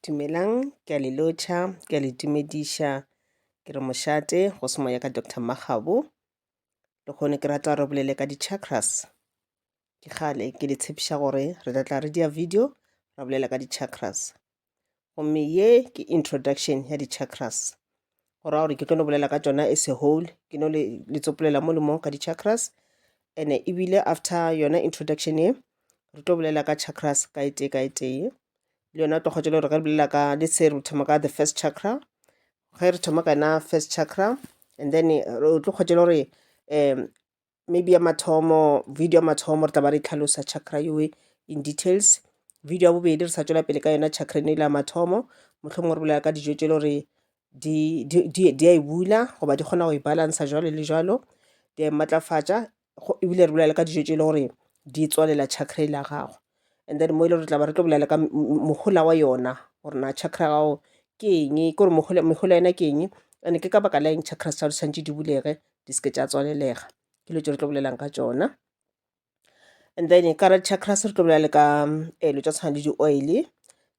Dumelang, ke a le lotšha, ke a le tumediša. Ke re mošate go se moya ka Doctor Makgabo. Le kgone ke rata re bolele ka di-chakras. Ke kgale ke le tshepiša gore re tla tla re dia video ra bolela ka di-chakras. Gomme ye ke introduction ya di-chakras. go raya gore ke tlo le bolela ka tšona as a whole ke no le, le tsopolela mo le mo ka di-chakras and ebile after yona introduction ye re tlo bolela ka chakras ka e tee ka e tee le yona o tlo kgotsa le gore ge re bolela ka le se re thoma ka the first chakra ge re thoma ka yona first chakra and then o tlo kgotsa le gore um maybe ya mathomo video ya mathomo re tla ba re tlhalosa chakra yoe in details video ya bobedi re sa tswela pele ka yona chakra eno ile ya mathomo mohlomongwe re bolela ka dijo tse e le gore di a e bula goba di kgona go e balansa jalo le jalo di a e matlafatša ebile re bolela ka dijo tse e le gore di tswalela chakra e la gago and then mo e le gore re tla ba re tlo bolela ka mohola wa yona gore na chakra ya gago ke eng ke gore mehola yona ke eng and-e ke ka baka la eng chakras tsa gago di tshwanetse di bulege di seke tša tswalelega ke dilo tse re tlo bolelang ka tsona and then ka re chakras re tlo bolela le ka um dilo tša tshwana le di-oil-e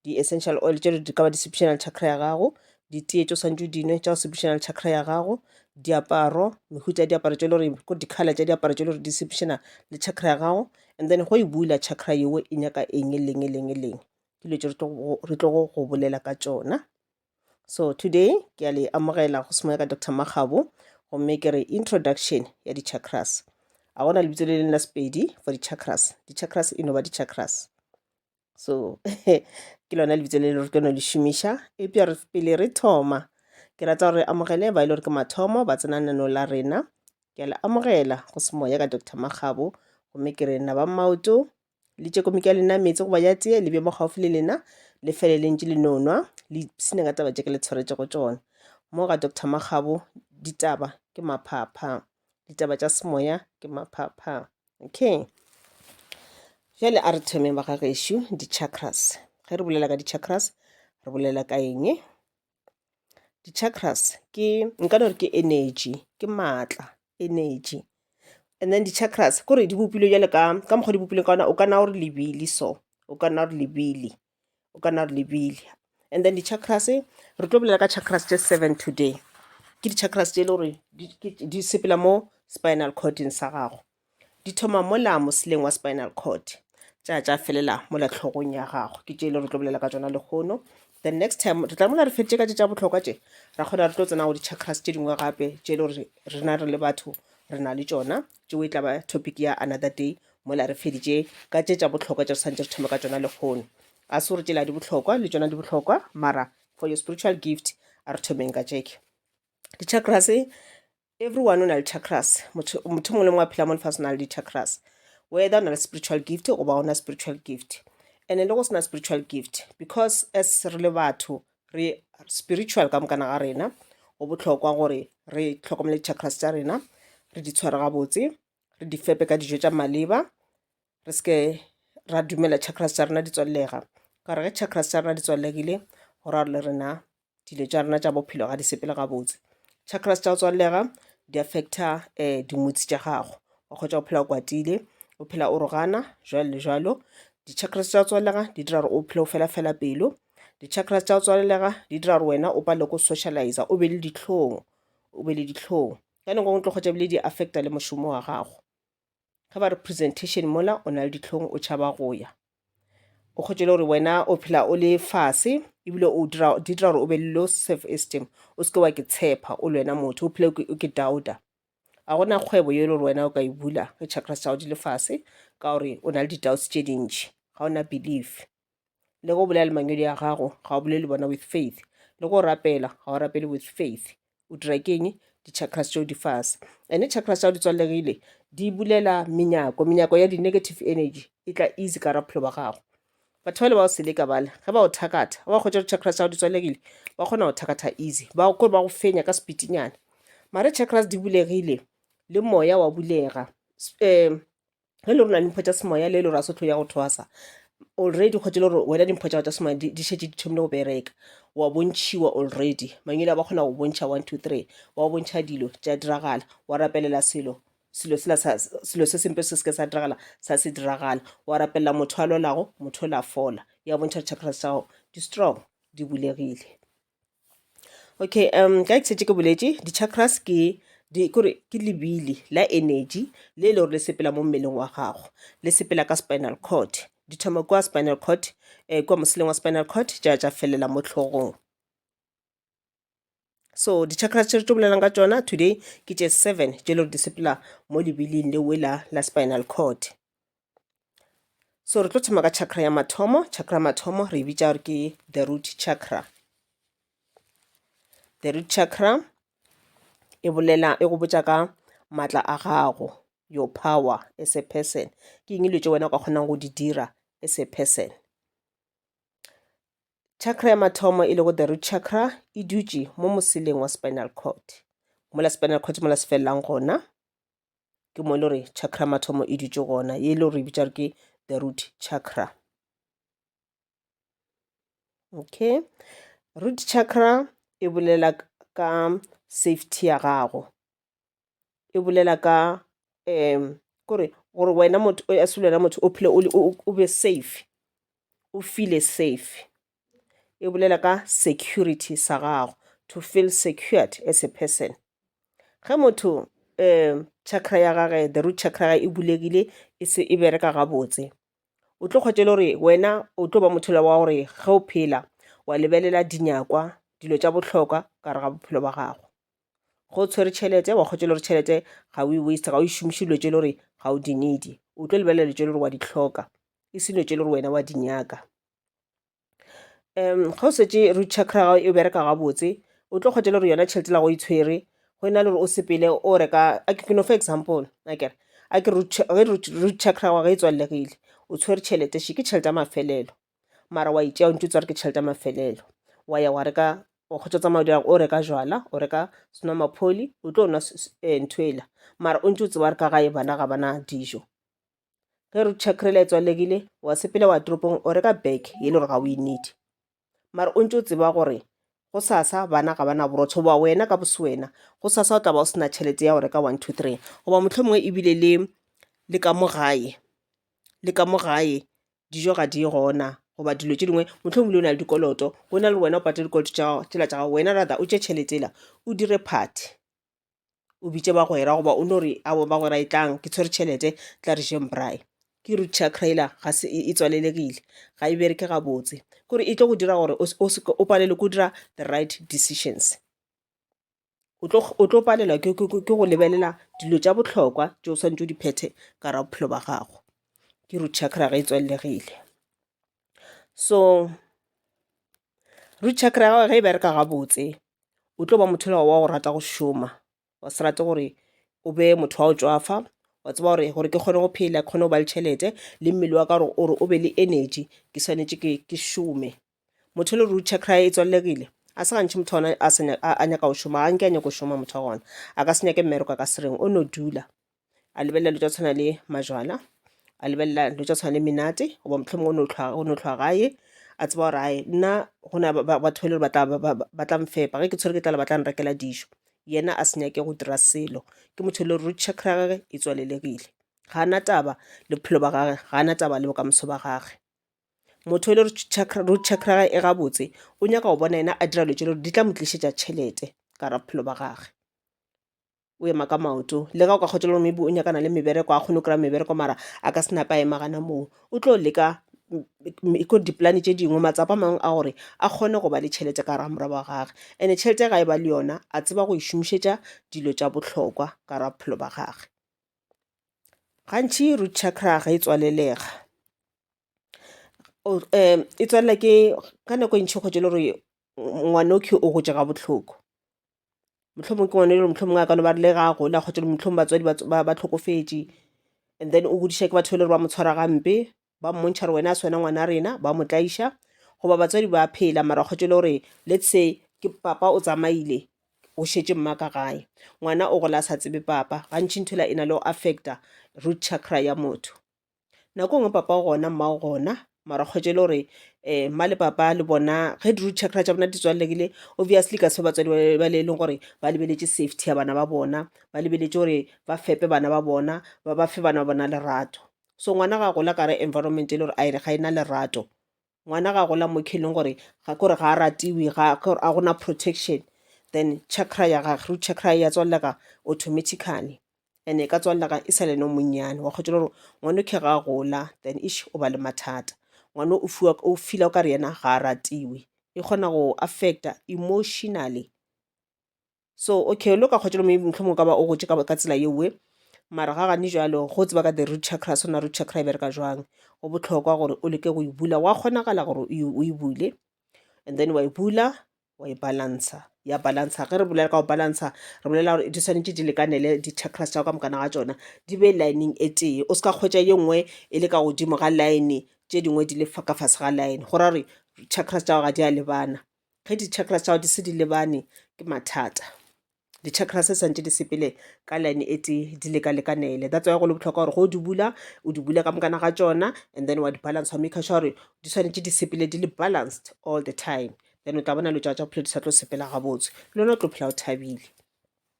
di-essential oil tšelo di ka ba di sepedišana le chakra ya gago ditee tšo swantšo dinwe tša go sepedišana le chakra ya gago diaparo mehuta ya diaparo tšo le gore ko dikgalela tša diaparo tšo le gore di sepedišana le chakra ya gago and then go e bula chakra yeo e nyaka eng e leng e leng e leng ke dilo tše re tlogo go bolela ka tšona so today ke a le amogela go semoya ka dr magabo gomme ke re introduction ya di-chakras a gona lebitso le leng la sepedi for di-chakras di-chakras e no ba di-chakras so ke lona lebitso le le re keno le šomiša eupša re pele re thoma ke rata gore amogele ba e le gore ke mathomo ba tsena nano la rena ke a le amogela go se moya ka dr makgabo gomme ke re na ba maoto le tše komiki ya lena meetse goba ya tee le bje mo gaufi le lena le fele le ntše le nonwa le ipsine ka taba tše ke le tshwaretse go tšona mo ga dr makgabo ditaba ke maphapha ditaba tša semoya ke maphapha okay jale a re thomeng ba ga gešo di-chakras ge re bolela ka di-chakras re bolela ka eng di-chakras ke nka no re ke energy ke maatla energy and then di-chakras kore di bopilwe jale ka ka mokgwa di bopilweng ka ona o ka na gore lebili so o ka na gore lebili o ka nna re lebile and then di-chakras re tlo bolela ka chakras tše seven today ke di-chakras tše e le gore di sepela mo spinal cording sa gago di thoma mola moseleng wa spinal cord tša tša felela mola tlhogong ya gago ke tše e le re tlo bolela ka tsona lehono the next time re tla mola re feditše ka tše tša bohlokwa tše ra kgona re tlo tsena go di-chakras tše dingwe gape tše e le gore rena re le batho re na le tšona tšeo e tla ba topic ya another day Mola re feditše ka tše tša bohlokwa tše re santše re thome ka tšona lehono. A se gore tšela di bohlokwa, le tšona di bohlokwa, mara for your spiritual gift a re thomeng ka tšeke. Di-chakras, everyone o na le chakras. Motho motho mongwe le mongwe a phela mo lefase o na le di-chakras. Whether o na le spiritual gift goba ona spiritual gift. And le go sena spiritual gift because as re le batho re spiritual ka mokana ga rena go bohlokwa gore re tlhokomele di-chakras tša rena re di tshware gabotse re di fepe ka dijo tša maleba re seke ra dumela chakras tša rena di tswallega ka gore ge chakras tša rena di tswallegile go ra le rena dilo tša rena tša bophelo ga di sepele gabotse chakras tša go tswallega di affecta um eh, dimotsi tša gago wa kgotsa go phela o kwatile o phela o rogana jalo le jalo di-chakras tša go tswallega di dira gore o phele o fela fela pelo di-chakras tša go tswalelega di dira gore wena o pale ko socialize o be le ditlhong o be le ditlhong Ka nako nngwe tlo kgwetša bile di affecta le mošomo wa gago. Ge ba re presentation mola o na le ditlhong o tšhaba go ya. O kgwetše le gore wena o phela o le fase ebile o dira di dira gore o be le low self esteem o seke wa ke tshepa o le wena motho o phela o ke doubter. A gona kgwebo yo e le gore wena o ka e bula ge chakras tša go di le fase ka gore o na le di-doubts tše dintši ga o na belief. le go bolela le mangwedi a gago ga o bolele bona with faith le go rapela ga o rapele with faith o dira keng di-chakras tšeo di fase ande chakras tšao di tswalegile di bulela menyako menyako ya di-negative energy e tla easy ka raphelo ba gago batho bale ba o seleka bale ge ba o thakatha ba kgwetsa di-chakras tšao di tswalegile ba kgona go thakatha easy ba kore ba go fenya ka sepitinyana mare chakras di bulegile le moya wa bulega um ge le rona dimpho tša semoya le lo ra sotho ya go thwasa already kgotse le gore wena dimpho tša tša semoya di di šetše di thomile go bereka wa bontšhiwa already mangwele a ba kgona go bontšha one two three wa go bontšha dilo tša diragala wa rapelela selo selo sela sa- selo se sempe se seke sa diragala sa se diragala wa rapelela motho a lwalago motho o la fola ya bontšha di-chakras tša gago di strong di bulegile Okay um ka ke ke boletše di-chakras ke di kore ke lebili la energy le e le gore le sepela mo mmeleng wa gago le sepela ka spinal cord di thoma kwa spinal cord um eh, kwa moseleng wa spinal cord ja ja felela mo tlhogong so di-chakras tše re tlo bolelang ka tšona today ke tše seven tše le gore di sepela mo lebiling le wela la spinal cord so re tlo thoma ka chakra ya mathomo chakra mathomo re bitša gore ke the root chakra the root chakra e bolela e go botša ka maatla a gago your power as a person ke eng dilo tse wena o ka kgonang go di dira as a person chakra ya mathomo e lego the root chakra e dutše mo moseleng wa spinal cord mola spinal cord mola se felelang gona ke mo e le gore chakra mathomo e dutše gona ye e le gore e bitša ke the root chakra okay root chakra e bolela ka safety ya gago e bolela ka um kore gore wena motho as wena motho o phele o be safe o feel safe e bolela ka security sa gago to feel secured as a person ge motho um chakra ya gage the root chakra e bulegile e se e bereka gabotse o tlo kgwetša le gore wena o tlo ba motho wa gore ge o phela wa lebelela dinyakwa dilo tša bohlokwa ka re ga bophelo ba gago go tshwere tšhelete wa kgwetša le gore tšhelete ga o e waste ga o e šomiše dilo tše le gore ga o di needi o tlo lebelela dilo tše le gore wa di tlhoka e se dilo tše le gore wena wa di nyaka um ga o šetše root chakra ya gago e bereka gabotse o tlo kgwetša le gore yona tšhelete la go e tshwere go e na le gore o sepele o reka ke no fa example akere a ke root chakra wa ge e tswallegile o tshwere tšhelete še ke tšhelete ya mafelelo mara wa itšea o ntse o tswa re ke tšhelete ya mafelelo wa ya wa reka o kgotsa tsamaya dira o reka jwala o reka senomapholi o tlo nwa eh, ntho ela mara o ntse o tseba re ka gae bana ga bana dijo ge re check re laetswa legile wa sepela wa toropong o reka bag ye le gore ga o e need mara o ntse o tseba gore go sasa bana ga bana borotho goba wena ka boswena go sasa o tla ba o sena tšhelete ya go reka one two three goba motlho mongwe ebile le le ka mo gae le ka mo gae dijo ga di gona goba dilo tše dingwe motlho mongwe le o na le dikoloto go na le wena o patele dikoloto tsela tša gago wena rather o tše tšheletela o dire party o bitše bagwera goba o no re ao bagwera e tlang ke tshwere tšhelete tla re jeng braai ke rutsha crailer ga se e, e tswalelegile ga e bereke gabotse kore e tlo go dira gore o palelwe ko dira the right decisions o tlo palelwa ke go lebelela dilo tša bohlokwa tše o swantse o di phethe ka ra bophelo ba gago ke root chakra ge e tswalelegile so root chakra ya gago ge e bereka gabotse o tlo ba mothelo wa go rata go šoma wa se rate gore o be motho wa go tšwafa wa tseba gore gore ke kgone go phela ke kgone go ba le tšhelete le mmele wa ka gore ore o be le energy ke swanetše ke ke šome motho e le root chakra e tswallegile a se gantšhe motho ona a nyaka go šoma ga nke a nyako šoma motho wa gona a ka se nyake mmereko a ka sereng o no dula a lebelela dilo tsa tshwana le majwala a lebelela dilo tsa tshwana le menate goba mohlomong o no tlhwa- o no tlhwa gae a tseba gore ae nna go na ba- ba- batho ba e le gore ba tla- ba- ba- ba tla mfepa ge ke tshwere ke tlala ba tla nrekela dijo yena a se nyake go dira selo ke motho e le root chakra ya gage e tswalelegile ga a na taba le bophelo ba gage ga a na taba le bokamoso ba gage motho e le root chakra root chakra ya gage e gabotse o nyaka go bona yena a dira dilo tse e le gore di tla mo tlišetša tšhelete ka ra bophelo ba gage o ema ka maoto le ga o ka kgotša gore maybe o nyakana le mebereko a kgone go kry-a mebereko mara a ka senape a ema gana moo o tlo leka ko dipolane tše dingwe matsapa a mangwe a gore a kgone go ba le tšhelete ka gara morwa wa gage and-e tšhelete ya ga e ba le yona a tseba go e šomišetša dilo tša bohlokwa ka gara bophelo ba gage gantši root chakra ga e tswalelega um e tswalela ke ka nako e ntšhi kgotše le gore ngwanokhi o gotše ga bohloko mohlomong ke ngwana e le gore mohlomong a ka no ba le ga a gola kgotsa mohlomong batswadi ba tlhokofetše and then o godiša ke batho ba e le gore ba mo tshwara gampe ba mmontšha gore wena a se wena ngwana rena ba mo tlaiša goba batswadi ba phela mara kgotsa e le gore let's say ke papa o tsamaile o šetše mma ka gae ngwana o gola a sa tsebe papa gantši ntho ela e na le go affecta root chakra ya motho nako nngwe papa o gona mma o gona mara kgwetše e le gore um mma le papa le bona ge di root chakra tša bona di tswalelekile obviously ka se batswadi ba le e leng gore ba lebeletše safety ya bana ba bona ba lebeletše gore ba fepe bana ba bona ba ba fe bana ba bona lerato so ngwana ga a gola ka re environment e le gore a ga e na lerato ngwana ga gola mo kheleng gore ga kore ga a ratiwe ga a gona protection then chakra ya gage root chakra ya tswalega automatically and e ka tswalega e sa le no monnyane wa kgotsa gore ngwana o khe ga gola then ish o ba le mathata ngwana o fiwa o fila o ka re yena ga a ratiwe e kgona go affecta emotionally so okay lo ka kgotšelo maybe mohlomong o ka ba o gotše ka ka tsela yeoe mara ga gane jalo go tseba ka the root chakras ona root chakra e bereka jwang go bohlokwa gore o leke go e bula wa kgonagala gore o e- o e bule and then wa e bula wa e balansa ya balansa ge re bolela ka go balansa re bolela gore di tshwanetse di lekanele di-chakras tša go ka mokana ga tsona di be lineng e tee o se ka kgwetša ye nngwe e le ka godimo ga line tše dingwe di le fa- ka fase ga line go ra gore chakras tša go ga di a lebana ge di-chakras tša gago di se di lebane ke mathata di-chakras se santse di sepele ka line e tee di lekalekanele that's why go le bohlokwa gore go di bula o di bule ka mokana ga tsona and then wa di balance wa make sure gore di swanetse di sepele di le balanced all the time then o tla bona lo tša tša bophelo di sa tlo sepela gabotse le lona o tlo phela o thabile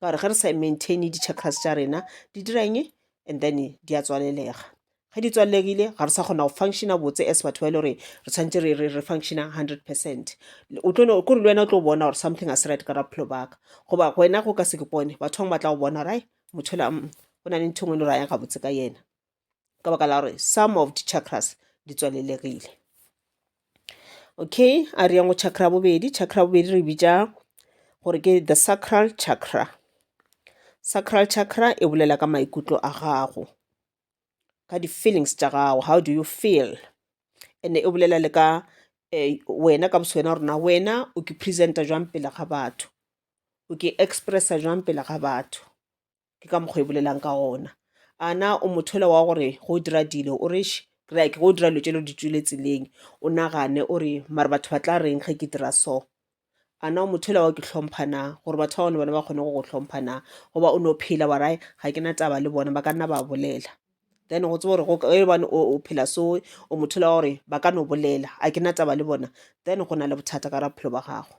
ka gore ge re sa maintaine di-chakras tša rena di dira eng and then di a tswalelega ge di tswallegile ga re sa kgona go functiona botse as batho ba e le gore re tshwanetse re re re functiona hundred percent o tlo ko re le wena o tlo bona gore something a se right ka raphelo baka goba wena go ka se ke pone batho bangwe ba tla go bona gore ai motho la mm, go na le ntho e nngwe e le gore a yang gabotse ka yena ka baka la gore some of the chakras di tswalelegile okay a re yang go chakra bobedi chakra bobedi re bitša gore ke the sacral chakra sacral chakra e bolela ka maikutlo a gago ka di-feelings tša gago how do you feel and e bolela le ka um wena ka boswena rona wena o ke presenta jwang pele ga batho o ke expressa jwang pele ga batho ke ka mokgwa e bolelang ka gona a na o mothola wa gore go dira dilo o re like go dira dilo tse lo di tswile tseleng o nagane o re mare batho ba tla reng ge ke dira so a na o mothola wa ke hlompha na gore batho ba bone bona ba kgone go go hlompha na goba o ne o phela wa rae ga ke na taba le bona ba ka nna ba bolela then go tseba gore gobane o phela so o mothola wa gore ba ka no bolela a ke na taba le bona then go na le bothata ka ra bophelo ba gago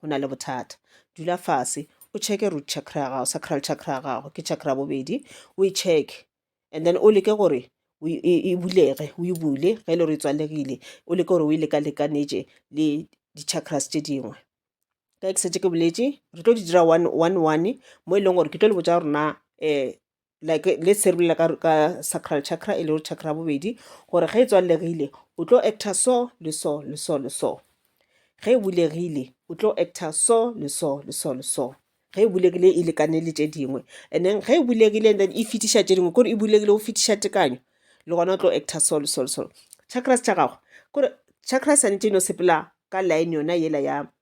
go na le bothata dula fase o checke root chakra ya gago sacral chakra ya gago ke chakra bobedi o e check and then o leke gore e bulege o e bule ge e le gore e tswalegile o leke gore o e lekalekanetše le di-chakras tše dingwe ka ke setse ke boletše re tlo di dira one one one mo e leng gore ke tlo le botsa gore na um like le serulela ka, ka sacral chakra e lego chakra ya bobedi gore ge e tswallegile o tlo actor so le so le so le so ge e bulegile o tlo actor so le so le so le so ge e bulegile e lekane le tše dingwe and then ge e bulegile and then e fetiša tše dingwe kore e bulegile o fetiša tekanyo le gona o tlo actor so le so le so chakras tša gago kore chakras santše no sepela ka line yona yela ya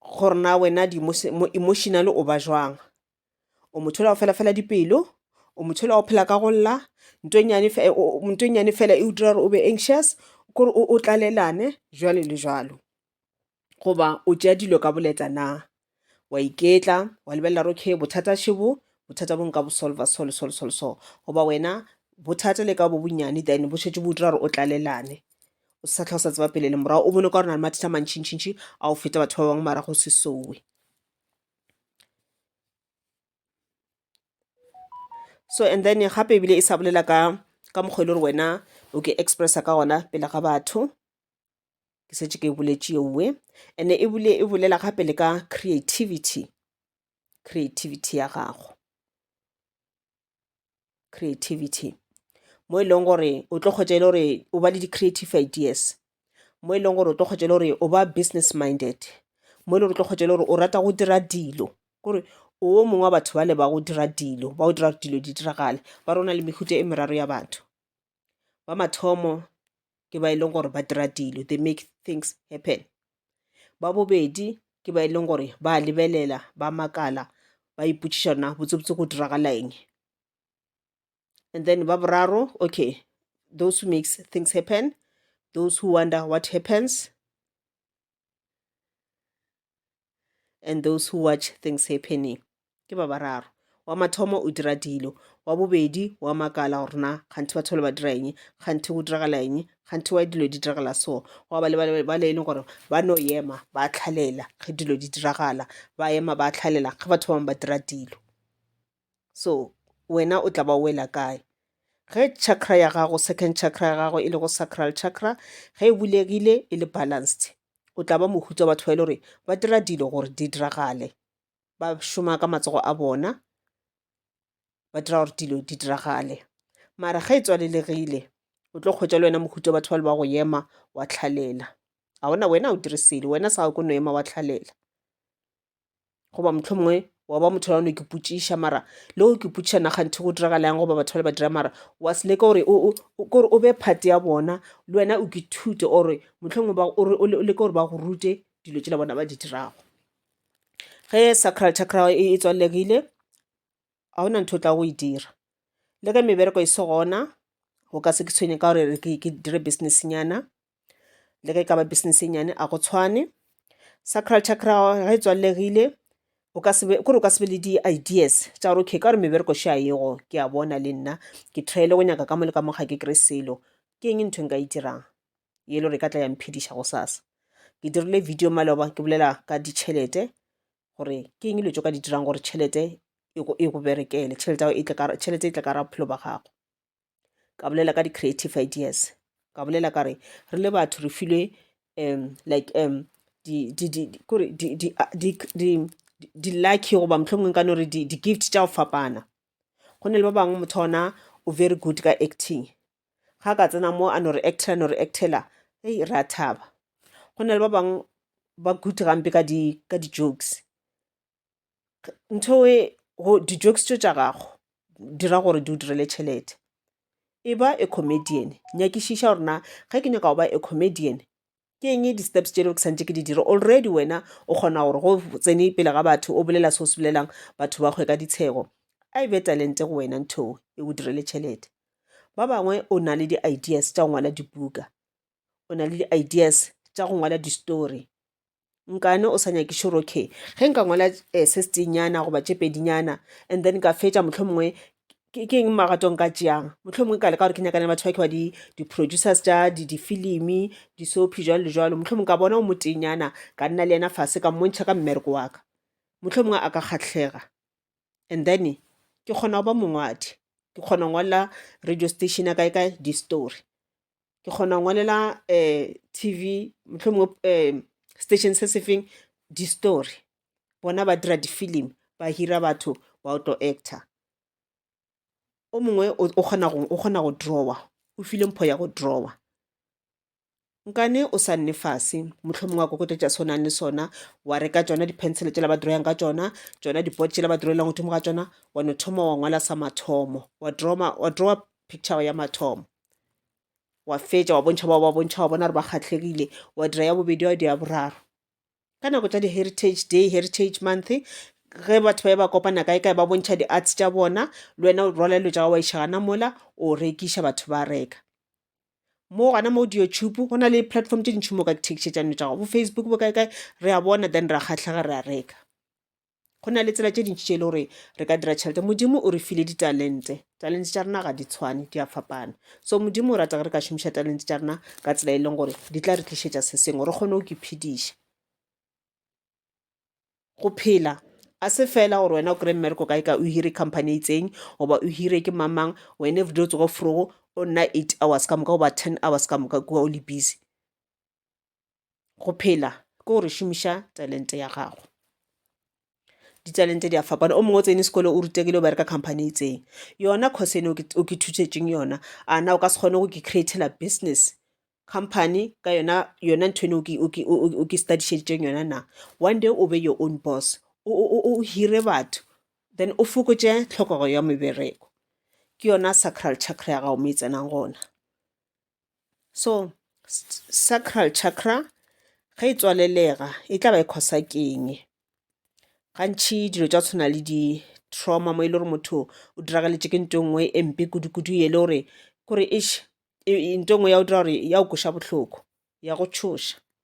gore na wena emotional o ba jwang o motho ola go fela fela dipelo o motho ola go phela ka go lla nto e nyane fela e o dira gore o be anxious kore o tlalelane jwalo le jwalo goba o tšea dilo ka boleta na Wa iketla, wa lebelela gore okay bothata še bo, bothata bo nka bo solver so le so le so le so. Goba wena bothata le ka bo bonnyane then bo šetše bo dira gore o tlalelane. O sa tlha o sa tseba pele le morago, o bone ka gore na le mathata a mantšintšintši a o feta batho ba bangwe mara go se sowe. So and then gape ebile e sa bolela ka ka mokgwa e le gore wena o ke expressa ka gona pele ga batho. ke setse ke boletše yeuwe ene e bule e bolela gape le ka creativity creativity ya gago creativity mo e leng gore o tlo kgotsa e le gore o ba le di-creative ideas mo e leng gore o tlo kgotsa e le gore o ba business minded mo e le gore o tlo kgotsa e le gore o rata go dira dilo kore o mongwe wa batho ba le ba go dira dilo ba go dira dilo di diragale ba rona le mehuta e meraro ya batho Ba mathomo ke ba e leng gore ba dira dilo they make things happen ba bobedi ke ba e leng gore ba lebelela ba makala ba ipotšiša na botsebotse go diragala eng and then ba boraro okay those who makes things happen those who wonder what happens and those who watch things happening ke ba bararo wa mathomo o dira dilo wa bobedi wa makala gore na kganthe batho ba le ba dira eng kganthe go diragala eng kganthe wa dilo di diragala so wa ba le ba le e leng gore ba no ema ba tlhalela ge dilo di diragala ba ema ba tlhalela ge batho ba bangwe ba dira dilo so wena o tla ba wela kae ge chakra ya gago second chakra ya gago e lego sacral chakra ge e bulegile e le balanced o tla ba mohutswa batho ba e le gore ba dira dilo gore di diragale ba šoma ka matsogo a bona ba dira gore dilo di diragale mara ge e tswalelegile o tlo kgwetsa le wena mohuta batho ba le ba go ema wa tlhalela ga ona wena o dire selo wena sa go no ema wa tlhalela goba motlho mongwe wa ba motho yano ke potšiša mara le go ke potšiša naganthe go diragala yang goba batho ba le ba dira mara wa se leka gore kore o be phate ya bona le wena o ke thute ore motlhongwe o leke gore ba go rute dilo tsela bona ba di dirago ge sacral chakra e, e tswallegile ga gona ntho o tla go e dira le ge mebereko e se gona go ka se ke tshwenye ka gore ke dire business nyana le ge e ka ba business e nnyane a go tshwane. Sacral chakra ga e tswallegile o ka se be kore o ka se be le di-ideas tša gore okay ka gore mebereko še a yego ke a bona le nna ke tryele go nyaka ka mo le ka mo ga ke kry selo ke eng ntho e nka e dirang e le gore e ka tla ya mphediša go sasa ke dirile video maloba ke bolela ka ditšhelete gore ke eng dilo tso ka di dirang gore tšhelete e go berekele tšhelete e tle ka ra bophelo ba gago ka bolela ka di-creative ideas ka bolela ka re re le batho re filwe um like um di-lucky goba mohlomongwe ka no re di-gift tša go fapana go ne le ba bangwe motho ona o very good ka acting ga ka tsena mo a no re actela no re actela ei ra thaba go na le ba bangwe ba good gampe ka di-jokes ntho e go di-jokes tso tša gago dira gore di o direle tšhelete e ba a comedian nyakišiša gore na ge ke nyaka go ba a comedian ke eng di-steps tše leo ke santse ke di dire already wena o kgona gore go tsene pele ga batho o bolela se o se bolelang batho ba kgwe ka ditshego a e be talente go wena ntho e o direle tšhelete ba bangwe o na le di-ideas tša go ngwala dibuka o na le di-ideas tša go ngwala di-story nkane o sa nyakiše gore okay ge nka ngwala um se setenyana goba tše pedinyana and then ka fetša mohlho mongwe ke eng magato nka tšeang mohlho mongwe ka leka gore ke nyakane le batho ba ke ba di-producers tša difilimi disophi jalo le jalo mohlho mongwe ka bona o motenyana ka nna le yena fase ka mmontšha ka mmereko wa ka mohlho mongwe a ka kgatlhega and then ke kgona go ba mongwadi ke kgona go ngwalela radio station ya kae kae di-story ke kgona go ngwalela um tv mohlomongwe um station se se feng di-story bona ba dira di-film ba hira batho ba o tlo actor o mongwe o o kgona go o kgona go drawa o file mpho ya go drawa nkane o sa nne fase mohlomongwe wa kokota tša se o nang le sona wa reka tšona di-pencil tšela ba drawang ka tšona tšona di-pot tšela ba drawelang godimo ga tšona wa no thoma wa ngwala sa mathomo wa drawa wa drawa picture ya mathomo wa fetša wa bontšha ba ba bontšha wa bona re ba kgatlhegile wa dira ya bobedi wa dira boraro ka nako tša di-heritage day heritage month ge batho ba ba kopana kae kae ba bontšha di-arts tša bona le wena o rwala dilo tša gago wa iša gana mola o rekiša batho ba reka mo gona mo di-youtube go na le platform tše dintšhi mo ka thekišetšano tša gago bo facebook bo kae kae re a bona then re a kgatlhega re a reka go na le tsela tše dintši tše e le gore re ka dira tšhelete modimo o re file ditalente talente tša rena ga di tshwane di a fapana so modimo o rata ge re ka šomiša talente tša rena ka tsela e leng gore di tla re tlišetša se sengwe re kgone go ke phediša go phela a se fela gore wena o kry-e mmereko kae ka o hire company e itseng goba o hire ke mamang wena everyday o tsogo frogo o nna eight hours ka moka goba ten hours ka moka kua o le busy go phela ke gore šomiša talente ya gago ditalente di a fapana o mongwe o tsene sekolo o rutegile o bereka company e itseng yona course ene o ke thušetseng yona a na o ka se kgone go ke createla business company ka yona yona ntho ene o ke studišeditseng yona na one day o be your own boss o hire batho then o fokotše tlhokego ya mebereko ke yona sacral chakra ya gago mo e tsenang gona so sacral chakra ge e tswalelega e tla ba e khosa keng gantšhi dilo tša tshwana le di-trauma mo e le gore motho o dirageletše ke nto nngwe e mpe kudu-kudu e le gore kore nto nngwe ya go dira gore ya go kweša bohloko ya go tšhoša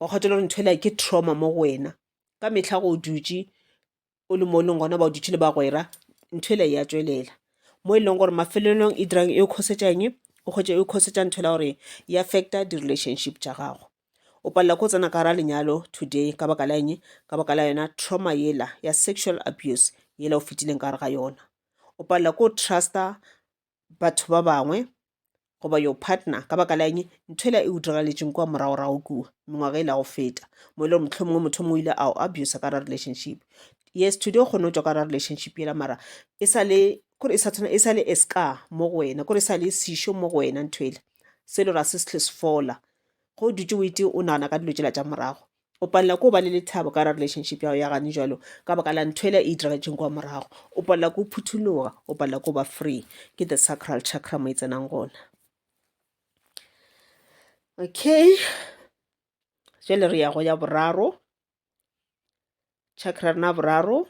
wa kgotela gore ntho ela ke trauma mo go wena ka mehla go o dutše o le mo e leng gona ba o dutše le bagwera ntho ela ya tswelela mo e leng gore mafelelong e dirang e o kgosetšang o kgwetše e o kgosetša ntho ela gore e affecta di-relationship tša gago o palela ko tsena ka gara lenyalo today ka baka la eng ka baka la yona trauma yela ya sexual abuse yela o fetileng ka gare ga yona o palela ko truster batho ba bangwe goba your partner ka baka la eng ntho ela e o diragaletšeng kua moragorago kua mengwaga e la go feta mo e le gore motlho mongwe motho mongwe o ile a o abusa ka ra relationship yes today o kgone go tswa ka ra relationship ela mara e sale kore e sa tshwana e sale e ska mo go wena kore e sale sešo mo go wena ntho ele se le gore a se se tlhe se fola go dutse o ete o nagana ka dilo tsela tša morago o palela ko ba le lethabo ka ra relationship ya go ya gane jalo ka baka la ntho ela e itiragetseng kwa morago o palela ko phuthologa o palela ko ba free ke the sacral chakra mo e tsenang gona okay jale re ya go ya boraro chakra rena boraro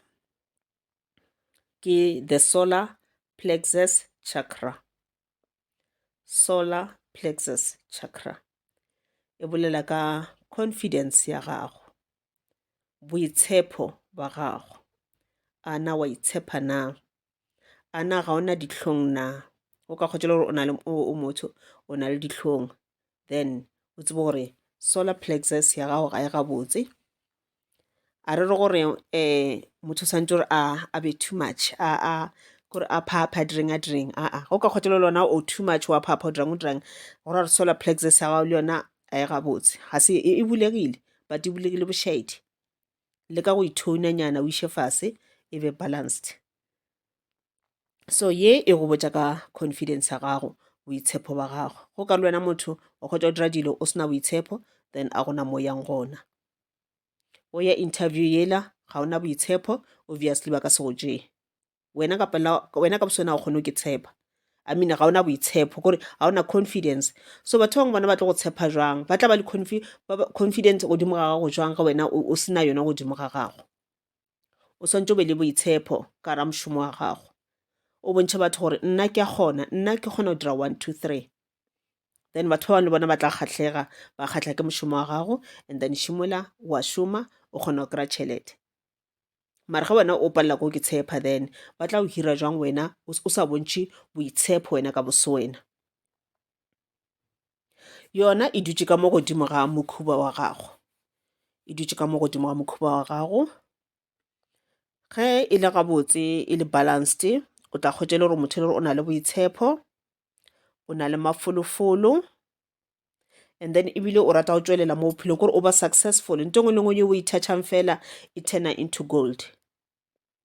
ke the solar plexus chakra solar plexus chakra e bolela ka confidence ya gago boitshepo ba gago a na wa itshepa na a na ga ona ditlhong na o ka kgotšela gore o na le o motho o na le ditlhong then o tsebe gore solar plexus ya gago ga e gabotse a re re gore um motho tshwanetse gore a be too much a kore a phapha a direng a direng aa go ka kgotlelo le ona o too much wa phapha o dirang o dirang go ra re solar plexus ya gago le yona a e gabotse ga se e, e bulegile but e bulegile bošaedi le ka go ithounanyana o iše fase e be balanced so ye e go botša ka confidence ya gago boitshepo ba gago go ka le wena motho o kgotsa o dira dilo o sena boitshepo then a gona mo yang gona o ya interview yela ga ona boitshepo obviously ba ka se go tšee wena ka pela wena ka boswena o kgone o ke tshepa i mean ga ona boitshepo kore ga ona confidence so batho bangwe bona ba tlo go tshepa jwang ba tla ba le confidence godimo ga gago jwang ga wena o sena yona godimo ga gago o swantse o be le boitshepo ka ra mošomo wa gago o bontšhe batho gore nna ke a kgona nna ke kgona go dira one two three then batho ba bangwe le bona ba tla kgatlhega ba kgatlha ke mošomo wa gago and then šimola wa šoma o kgona go kry-a tšhelete mare ge wena o palela ko ke tshepa then ba tla o hira jwang wena o sa bontšhe boitshepo wena ka bose wena yona e dutše ka mo godimo ga mokhuba wa gago e dutše ka mo godimo ga mokhuba wa gago ge e le gabotse e le balanced o tla kgotse le gore motho e le gore o na le boitshepo o na le mafolofolo and then ebile o rata go tšwelela mo bophelong kore o ba successful nto engwe le ngwe yo o ithatšhang fela e turna into gold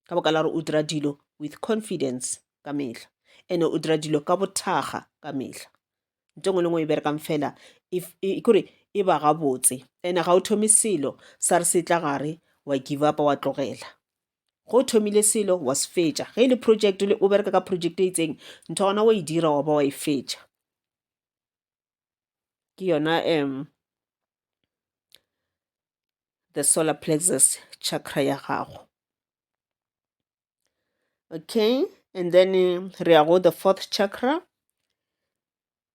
ka boka la gore o dira dilo with confidence ka mehla ene o dira dilo ka bothaga ka mehla nto engwe le ngwe e berekang fela kore e ba gabotse ene ga o thome selo sa re se tla gare wa give up wa tlogela go thomile selo wa se fetša ge e le project le o bereka ka project e itseng ntho gona wa e dira wa ba wa e fetša ke yona um the solar plexus chakra ya gago okay and then re ya go the fourth chakra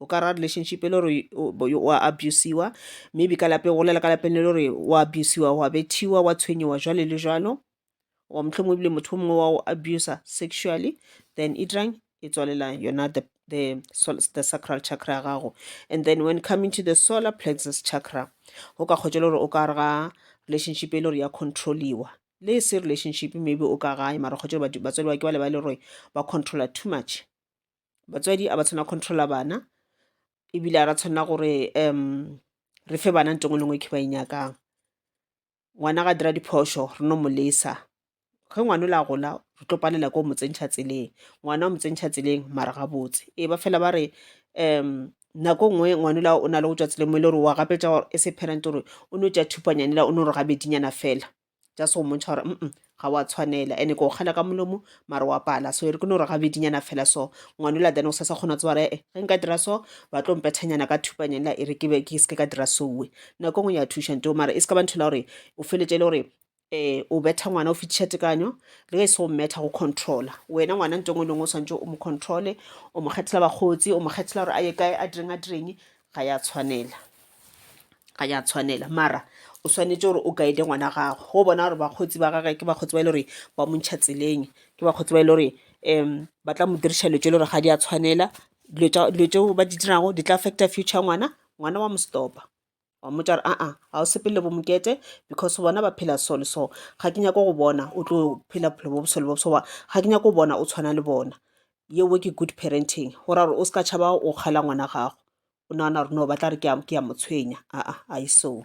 o ka ra relationship e le gore wa abusiwa maybe ka lapeng go lela ka lapeng le le gore wa abusiwa wa bethiwa wa tshwenyiwa jwale le jwalo or mohlomongwe ebile motho mongwe wa go abusa sexually then e dirang e tswalela yona the, the, the sacral chakra ya gago and then when coming to the solar plexus chakra o ka kgotsa le gore o ka re ga relationship e le gore ya controliwa le e se relationship maybe o ka gae mara kgotsa batswadi ba ke ba le ba le gore ba controller too much batswadi a ba tshwana controller bana ebile a ra tshwanela gore um re fe bana nto ngwe le ngwe ke ba e nyakang ngwana ga dira diphošo re no mo lesa ge ngwana o le a gola re tlo palela ko mo tsentšha tseleng ngwana o mo tsentšha tseleng mara ga botse e ba fela ba re um nako nngwe ngwana la o na le go tswa tseleng mo e le gore wa gapetša gore e se parent gore o no tša thupanyane la o no re gabedinyana fela just go mmontšha gore mm ga wa tshwanela and-e ko kgala ka molomo mare wa pala so e re ke no re gabedinyana fela so ngwanola then o sa sa kgona tse bare e ge nka dira so ba tlo mpethanyana ka thupanyana e re ke be ke se ke ka dira sowe nako ngwe ya thuša nto mare e se ka ba nthela gore o feletse e le gore eh o betha ngwana o fitiša tekanyo le ge e se o mmetha go controla wena ngwana nto ngwe lengwe o swantse o mo controle o mo kgethela bakgotsi o mo kgethela gore a ye kae a direng a direng ga ya tshwanela ga ya tshwanela mara o swanetše gore o guide ngwana gago go bona gore bakgotsi ba gage ke bakgotsi ba e le gore ba mo ntšha tseleng ke bakgotsi ba e le gore um ba tla mo diriša dilo tše e le gore ga di a tshwanela dilo tšeo ba di dirago di tla affecta future ngwana ngwana wa mo stopa wa mmotša gore aa ga o sepele bo mokete because bona ba phela so le so ga ke nyake go bona o tlo phela bophelo bo bosele bo ga ke nyake go bona o tshwana le bona Yeo ke good parenting go ra gore o se ka tšhaba go kgela ngwana gago o nagana gore no ba tla re ke ya motshwenya aa aiso.